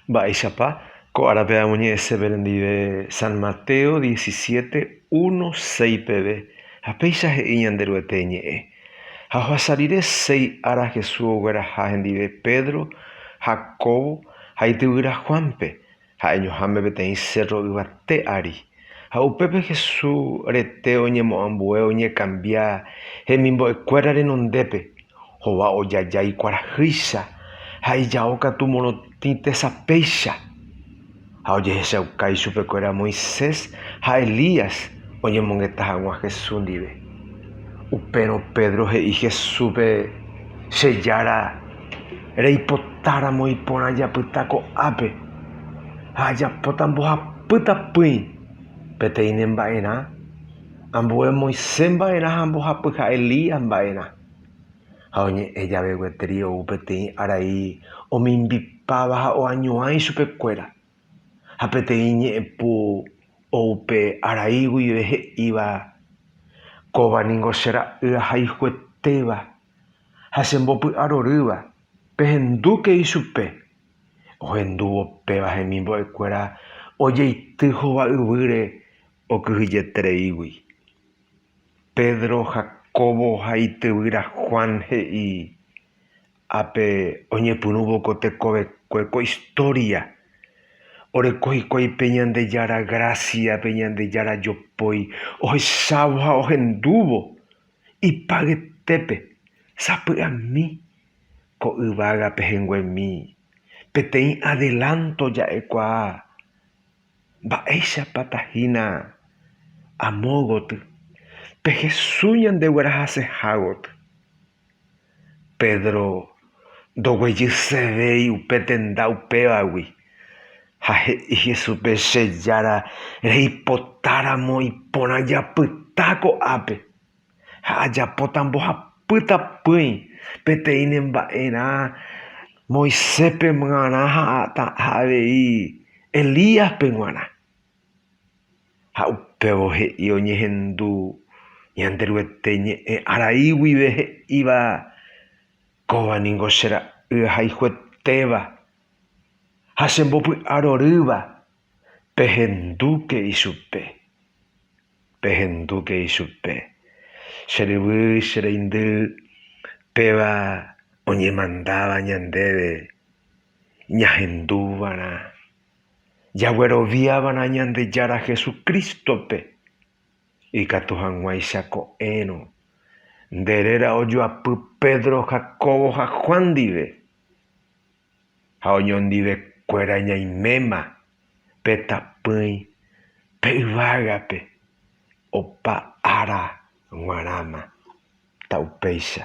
Mba'éichapa ko árape amoñe'ẽsépe rendive San Mateo diecisiete, uno, seis peve, ha péicha he'i Ñanderuete ñe'ẽ. Ha ohasa rire seis ára Jesús ogueraha hendive Pedro, Jacobo ha ityvýra Juánpe, ha'eñoháme peteĩ sérro yvate ári. Ha upépe Hesu rete oñemoambue oñekambia hemimbo'ekuéra renondépe, hova ojaja ikuarahýicha ha ijao katu morotĩ tesapéicha. Ha ojehechauka ichupekuéra Moisés ha Elías oñemongeta hag̃ua Hesu ndive. Upérõ Pedro he'i Hesúpe, Che Jára, Reipotáramo iporã japyta ko'ápe ha ajapóta mbohapy tapỹi peteĩ ne mba'erã, ambue Moisés mba'erã ha mbohapy ha Elías mba'erã. Ha oñe'ẽ jave gueteri ou peteĩ arai omimbipáva ha oañuã ichupe kuéra. Ha peteĩ ñe'ẽpu ou pe arai guive he'íva, Kóva ningo che ra'y ahayhuetéva. ha che mbopy'arorýva, pehendúke ichupe. Ohendúvo péva hemimbo'ekuéra ojeity hova yvýre okyhyjetereígui. Pedro, Jacobo ha ityvyra Juan he'i, Ápe oñepyrũvo ko tekovekue ko istória, oreko hikuái pe Ñandejára grásia, pe Ñandejára jopói ohechávo ha ohendúvo. Ipy'aguetépe sapy'ami ko yvága pehẽnguemi peteĩ adelanto ja'ekuaa mba'éichapa tahína amo gotyo pe Jesús ñandeguerahaseha gotyo. Pedro ndoguejysevéi upe tenda upévagui, ha he'i Jesúspe, Che Jára, reipotáramo iporã japyta ko'ápe, ha ajapóta mbohapýta pỹi peteĩ ne mba'erã Moiséspe g̃uarã ha avei Elíaspe g̃uarã. Ha upévo he'i oñehendu Ñanderuete ñe'ẽ arai guive he'íva, Kóva ningo che ra'y ahayhuetéva ha che mbopy'arorýva, pehendúke ichupe, pehendúke ichupe. Che ryvy, che reindy, péva oñemandáva ñandéve ñahendúvarã. Jagueroviáva'erã Ñandejára Jesucristo-pe, ikatu hag̃uáicha ko'ẽrõ nde réra ojoapy Pedro, Jacobo ha Juan ndive, ha oñondivekuéra ñaiméma pe tapỹi pe yvágape opa ára g̃uarãma. Ta upéicha.